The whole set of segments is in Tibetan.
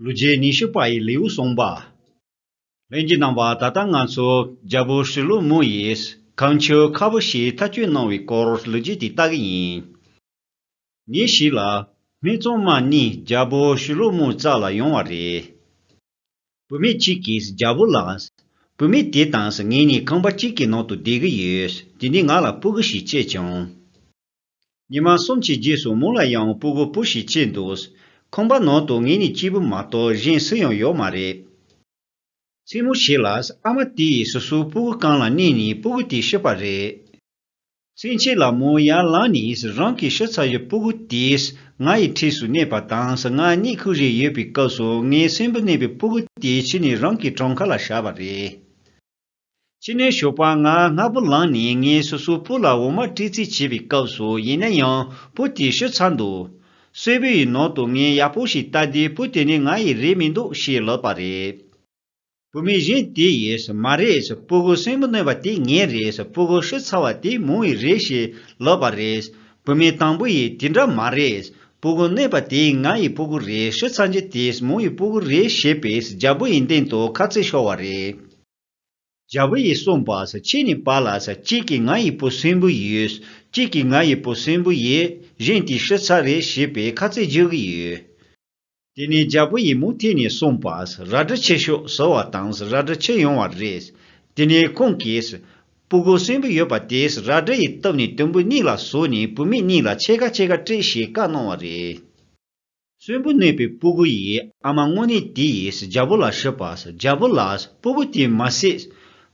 ལོ་རྗེས་ཉི་ཤུ་པ་ཡི་ལེའུ་གསུངས་པ། ལྷན་གྱི་རྣམ་པ་ད་ལྟ་ང་ཚོ་རྒྱ་བོད་ཧྲིལ་བོ་མུ་ཡིས་གངས་ཆུ་ཁ་བོ་ཞེས་མཐའ་དཔྱོད་གནང་བའི་སྐོར་ལོ་རྗེས་དེ་ལྟ་གི་ཡིན། ཉིན་ཞིག་ལ་མི་ཚང་མ་གཉིས་རྒྱ་བོད་ཧྲིལ་བོ་མུ་རྩ་ལ་ཡོང་བ་རེད། བུད་མེད་གཅིག་གིས་རྒྱ་བོད་ལ། བུད་མེད་དེ་དང་ངེད་གཉིས་ཁང་པ་གཅིག་གི་ནང་དུ་བསྡད་གི་ཡོད་དེ་ནས་ང་ལ་སྤུ་གུ་ཞིག་བཅད་བྱུང། ཉི་མ་གསུམ་གྱི་རྗེས་སུ་མོ་ལ་ཡང་སྤུ་བུ་སྤུ་ཞིག་སྐྱེས་འདུག་ཁང་པ་ནང་དུ་ངེད་གཉིས་གཅིག་པུ་མ་གཏོགས་གཞན་སུ་ཡང་ཡོད་མ་རེད། མཚན་མོ་ཞིག་ལ་ཨ་མ་དེས་སོ་སོའི་སྤུ་བུ་རྐང་ལ་བསྣན་ནས་སྤུ་བུ་དེ་བཤུས་པ་རེད། མཚན་ཕྱེད་ལ་མོ་ཡར་ལངས་ནས་རང་གིས་བཤུས་ཚར་བའི་སྤུ་བུ་དེས་ང་ཡི་འཁྲིས་སུ་གནས་པ་དང་ང་གཉིད་ཁུག་རེ་ཡོད་པའི་སྐབས་སུ་ངའི་སྲིན་བུ་གནས་པའི་སྤུ་བུ་དེ་ཕྱི་ནས་རང་གི་བྲང་ཁ་ལ་བཞག་པ་རེད། ཅི་ནས་ཞོགས་པ་ང་སྔ་པོ་ལངས་ནས་ངས་སོ་སོའི་བུ་ལ་འོ་མ་སྤྲད་རྩིས་བྱེད་པའི་སྐབས་སུ་ཡིན་ན་ཡང་བུ་དེ་ཤི་ཚར་འདུག། གསོལ་བུ་ཡི་ནང་དུ་ངས་ཡག་པོ་ཞིག་བལྟ་དུས་བུ་དེ་ནི་ང་ཡི་རེད་མི་འདུག་ཞེས་ལབ་པ་རེད། བུད་མེད་གཞན་དེས་ཡས་མ་རེད་སྤུ་གུ་སྲིན་མོ་གནོད་པ་དེ་ངའི་རེད་སྤུ་གུ་ཤི་ཚར་བ་དེ་མོའི་རེད་ཞེས་ལབ་པ་རེད། བུད་མེད་དང་པོ་ཡིས་དེ་འདྲ་མ་རེད། སྤུ་གུ་གནས་པ་དེ་ང་ཡི་སྤུ་གུ་རེད་ཤི་ཚར་རྗེས་དེས་མོ་ཡི་སྤུ་གུ་རེད་ཞེས་པས་རྒྱ་བུ་ཡི་སྟེང་དུ་ཁ་རྩེ་ཤོར་བ་རེད། རྒྱ་བུ་ཡིས་གསུངས་པ། ཁྱེད་གཉིས་པ་ལ་གཅིག་གིས་ང་ཡི་སྤུ་སྲིན་བུ་ཡོད། གཅིག་གིས་ང་ཡི་སྤུ་སྲིན་བུ་ཡོད། གཞན་དེས་ཤི་ཚར་རེད་ཞེས་པས་ཁ་རྩེ་རྒྱག་གི་ཡོད། དེ་ནས་རྒྱལ་པོ་ཡི་མུག་ཐིག་ནས་གསུངས་པ། རལ་གྲི་ཆེ་ཤོས་ཟོ་བ་དང་རལ་གྲི་ཆེ་ཡོང་བ་རེད། དེ་ནས་ཁོང་གིས། སྤུ་གུ་སྲིན་བུ་ཡོད་པ་དེས་རལ་གྲི་ཡི་སྟབས་ནས་དུམ་བུ་གཉིས་ལ་ཟུག་ནས་བུད་མེད་གཉིས་ལ་ཕྱེད་ཀ་ཕྱེད་ཀ་སྤྲད་ཞེས་བཀའ་གནང་བ་རེད། སྲིན་བུ་གནས་པའི་སྤུ་གུ་ཡི་ཨ་མ་དངོས་གནས་དེ་ཡིས་རྒྱལ་པོ་ལ་ཞུས་པ། རྒྱལ་པོ་ལགས། སྤུ་གུ་དེ་མ་བསད།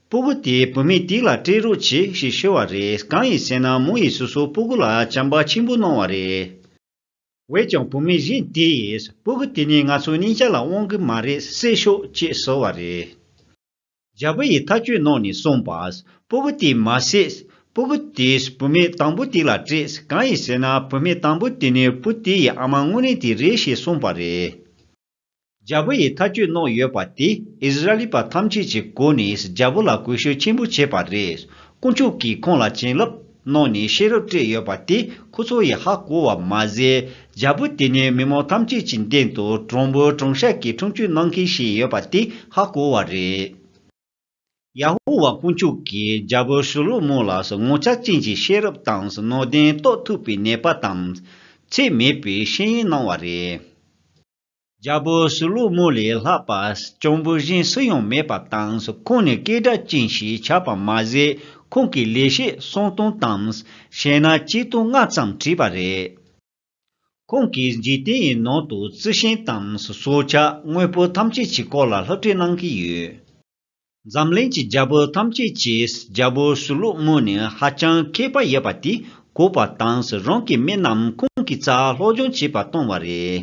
སྤུ་གུ་དེ་བུད་མེད་དིག་ལ་སྤྲད་རོགས་བྱོས་ཞེས་ཞུས་བ་རེད་གང་ཡིན་ཟེར་ན་མོ་ཡིས་སོ་སོའི་སྤུ་གུ་ལ་བྱམས་པ་ཆེན་པོ་གནང་བ་རེད། བས་ཀྱང་བུ་མེད་གཞན་དེས་སྤུ་གུ་དེ་ནི་ང་ཚོའི་སྙིང་གཅགས་ལ་དབང་གི་མ་རེད་བསད་ཤོག་ཅེས་གསོལ་བ་རེད། རྒྱལ་པོ་ཡིས་ཐག་གཅོད་གནང་ནས་གསུངས་པ། སྤུ་གུ་དེ་མ་བསད། སྤུ་གུ་དེས་བུ་མེད་དང་པོ་དེ་ལ་སྤྲད། གང་ཡིན་ཟེར་ན་བུ་མེད་དང་པོ་དེ་ནི་སྤུ་དེ་ཡི་ཨ་མ་དངོས་རིགས་དེ་རེད་ཞེས་གསུངས་པ་རེད། རྒྱལ་པོ་ཡིས་ཐག་གཅོད་གནང་ཡོད་པ་དེ་ཨིས་ར་ལི་པ་ཐམས་ཅད་ཀྱི་སྒོ་ནས་རྒྱལ་པོ་ལ་གུས་ཞུ་ཆེན་པོ་བྱས་པ་རེད། དཀོན་མཆོག་གིས་ཁོང་ལ་བྱིན་རླབས་གནང་ནས་ཤེས་རབ་སྤྲད་ཡོད་པ་དེ་ཁོ་ཚོ་ཡིས་ཧ་གོ་བ་མ་ཟད། རྒྱལ་པོ་དེ་ནི་མི་མང་ཐམས་ཅད་ཀྱི་མདུན་དུ་དྲང་པོའི་དྲང་བཤད་ཀྱི་འཁྲུངས་སྐྱོད་གནང་མཁན་ཞིག་ཡོད་པ་དེ་ཧ་གོ་བ་རེད། ཡ་ཧུ་བ་དཀོན་མཆོག་གིས་རྒྱལ་པོ་ཤུ་ལོ་མོ་ལ་ངོ་ཚ་ཅན་གྱི་ཤེས་རབ་དང་ནོར་ལྡན་རྟོགས་ཐུབ་པའི་ནད་པ་དང་ཚེགས་མེད་པའི་ཤེས་ཡོན་གནང་བ་རེད། རྒྱལ་པོ་ཤུ་ལོ་མོ་ལས་ལྷག་པ་གྱོང་པོ་གཞན་སུ་ཡང་མེད་པ་དང་ཁོང་ནི་སྐད་གྲགས་ཅན་ཞིག་ཆགས་པར་མ་ཟད་ཁོང་གི་ལེགས་བཤད་གསང་སྟོང་དང་ཞལ་སྣ་སྐྱིད་སྟོང་ལྔ་ཙམ་བྲིས་པ་རེད། ཁོང་གིས་འཇིག་རྟེན་ཡི་ནང་དུ་རྩི་ཤིང་དང་སྲོག་ཆགས་དངོས་པོ་ཐམས་ཅད་ཀྱི་སྐོར་ལ་ལྷག་བྲིས་གནང་གི་ཡོད། འཛམ་གླིང་གི་རྒྱལ་པོ་ཐམས་ཅད་ཀྱིས་རྒྱལ་པོ་ཞུ་ལུགས་སྨོན་ནས་ཧ་ཅང་མཁས་པ་ཡོད་པ་དེ་གོ་བ་དང་རང་གི་མི་རྣམས་ཁོང་གི་རྩར་སློབ་སྦྱོང་བྱེད་པར་བཏང་བ་རེད།